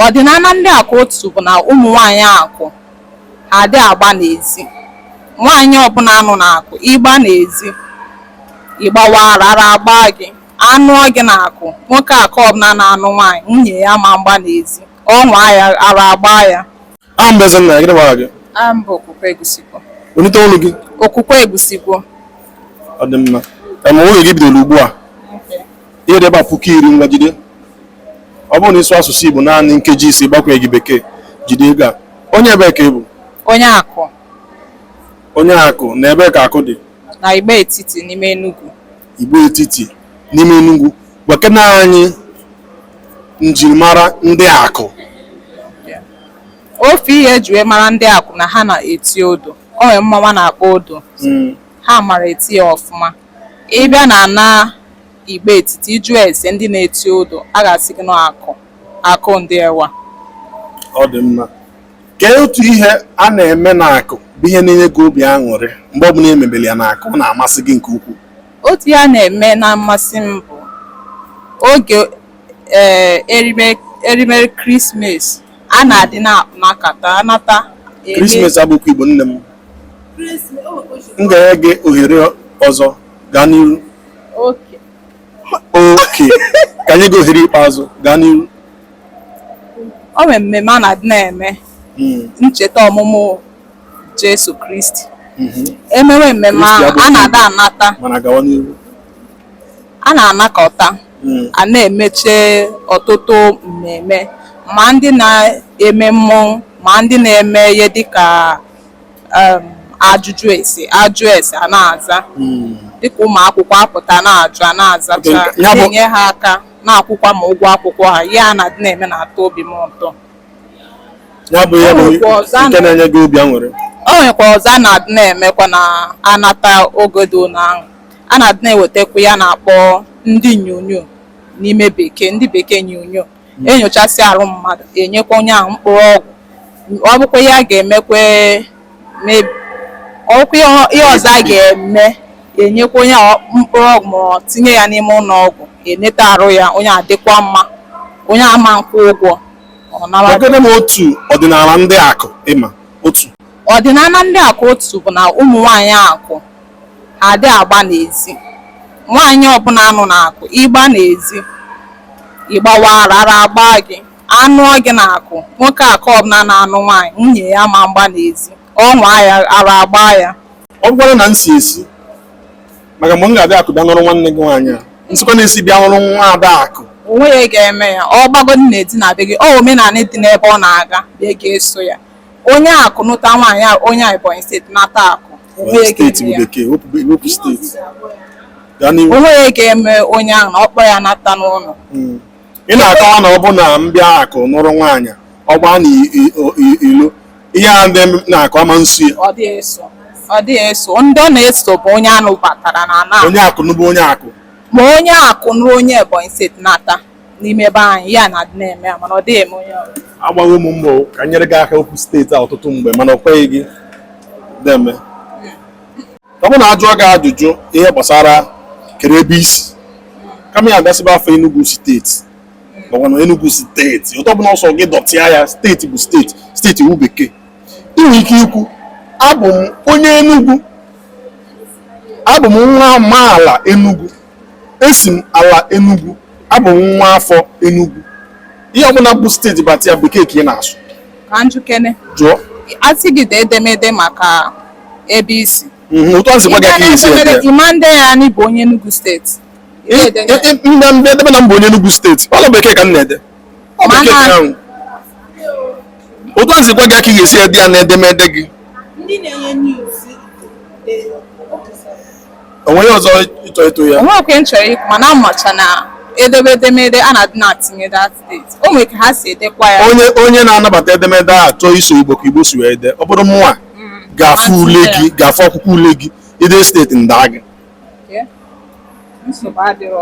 Ọdịnala ndị Akụ otu bụ na ụmụ nwaanyị Akụ ha adị agba n'ezi. Nwaanyị ọbụla nọ n'Akụ, ị gba n'ezi, ị gbawa ara, ara agbaa gị. A nụọ gị n'Akụ, nwoke Akụ ọbụla na-anụ nwaanyị, nwunye ya ma mgba n'ezi. Ọ nwaa ya, ara agbaa ya. Aha m bụ Ezenna, gịnị bụ aha gị? Aha m bụ Okwukwe Egusikwo. Welite olu gị. Okwukwe Egusikwo. Ọ dị mma. Em, nwunye gị bidoro ugbu a. ihe dị ebe a puku iri ngwa jide ọ bụrụ na ị sụ asụsụ Igbo naanị nkeji isii gbakwunyeghị bekee jide ego a onye ebee ka ị bụ onye akụ onye akụ na ebee ka akụ dị na Igbo etiti n'ime Enugu Igbo etiti n'ime Enugu gwakene anyị njirimara ndị akụ ofu ihe eji wee mara ndị akụ na ha na-eti odo o nwere mmanwụ a na-akpọ odo hmm. ha mara eti ya ọfụma Ị bịa n'ala Igbo etiti, ị jụọ ese ndị na-eti odo, a ga-asị gị na ọ Akụ, Akụ Diewa. Ọ dị mma. Kee otu ihe a na-eme n'akụ bụ ihe na-enye gị obi aṅụrị mgbe ọbụla e mebere ya n'akụ ọ na-amasị gị nke ukwuu? Otu ihe a na-eme na-amasị m bụ oge ee eh, erimeri krismas a na-adị na-anakọta anata. Krismas abụkwa Igbo nne m. m ga-enye gị ohere ọzọ gaa n'iru okay ka m nye gị ohere ikpeazụ gaa n'iru o nwere mmemme a na-adị na-eme hmm. ncheta ọmụmụ Jesu Kristi hmm. emewe mmemme ahụ a na-adị anata A na-anakọta, a na-emecha ọtụtụ mmemme, ma ndị na-eme mmọnwụ ma ndị na-eme ihe dị ka ajụjụ ese, a jụọ ese a na-aza, dị ka ụmụ akwụkwọ a pụta a na-ajụ a na-azacha, na-enye ha aka, na-akwụkwa ma ụgwọ akwụkwọ ha. Ihe a na-adị na-eme na-atọ obi m ụtọ. Ya bụ ihe bụ nke na-enye gị obi aṅụrị? O nwekwa ọzọ a na-adị na-emekwa na-anata oge dị otu ahụ. A na-adị na-ewetakwa ihe a na-akpọ ndị nyonyo n'ime bekee ndị bekee nyonyo enyochasị arụ mmadụ enyekwa onye ahụ mkpụrụ ọgwụ ọ bụkwa ihe a ga-emekwa maybe- ọ bụkwa ihe ọ- ihe ọzọ a ga-eme enyekwa onye ahụ mkpụrụ ọgwụ ma ọ tinye ya n'ime ụlọ ọgwụ eneta arụ ya onye ahụ dịkwa mma onye ahụ ma nkwụ ụgwọ ọ nawa Gwanụ m otu ọdịnala ndị akụ ị ma otu ọdịnala ndị akụ otu bụ na ụmụ nwaanyị akụ adị agba n'ezi nwaanyị ọbụla a nụ n'akụ ịgba n'ezi ịgbawa ara ara agba gị anụ gị n'akụ nwoke akụ ọbụla na-anụ nwaanyị nwunye ya ama mgba n'ezi ọ nwaa ya ara agba ya ọ bụkwara na m si ezi maka mgbe m ga-abịa akụ bịa nụrụ nwanne gị nwaanyị a m sikwa n'ezi bịa nụrụ nwa ada akụ o nwe ihe ga-eme ya ọ gbagodi n'ezi na be gị ọ omenala dị n'ebe ọ na-aga bụ ya ga-eso ya Onye akụ nụta nwaanyị a onye Ebonyi steeti nata akụ. Onye steeti bụ bekee, wepụ steeti. O nwe ihe ga-eme onye ahụ na ọ kpọ ya nata n'ụlọ. Hmm. Ị na-akọwa na ọ bụ na m bịa akụ nụrụ nwaanyị ọ gbaa na ilo ihe a ndị na-akọ ama nso ya. Ọ dịghị eso. Ndị ọ na-eso bụ onye a nụbatara n'ana. Onye akụ nụbụ onye akụ. Ma onye akụ nụrụ onye Ebonyi steeti nata. n'ime ebe anyị ya na-adị na-eme ya mana ọ dịghị eme onye ọrụ agbago mụ mbọ ka m nyere gị aka okwu steeti a ọtụtụ mgbe mana ọ kweghị gị deme ọ bụ na ajụọ gị ajụjụ ihe gbasara kee ebe i si kama ya ga-asị nwa afọ Enugu steeti ọgwana Enugu steeti otu ọbụna ọ sọ gị dọtịa ya steeti bụ steeti steeti wụ bekee i nwe ike ikwu abụ m onye Enugu abụ m nwa amaala Enugu Esi m ala Enugwu, abụ m nwa afọ Enugwu. Ihe ọbụla bụ steeti bata ya bekee ka ị na-asụ. Ka m jụkene. Jụọ. A sị gị dee edemede maka ebe i si. Mhm, otu a sị gwa gị ka i si ede. Ị ma nde ya na ị bụ onye Enugwu steeti. Ndị ndị edebe na m bụ onye Enugwu steeti. Ọ na bekee ka m na-ede. Ọ bekee ka ahụ. Otu a sị gwa gị ka ị ga-esi ede ya na edemede gị. Ndị na-enye news. o nwe ihe ọzọ ị chọ ịtụ ya o nwe okwu m chọrọ ikwu mana amacha na edebe edemede a na-adị na-atinye that steeti o nwere ka ha si edekwa ya onye onye na-anabata edemede a chọọ iso igbo ka igbo si wee ede ọ bụrụ mụnwa mm. ga-afụ ule gị ga-afụ akwụkwọ ule gị i de steeti m daa gị nsogbu adịrọ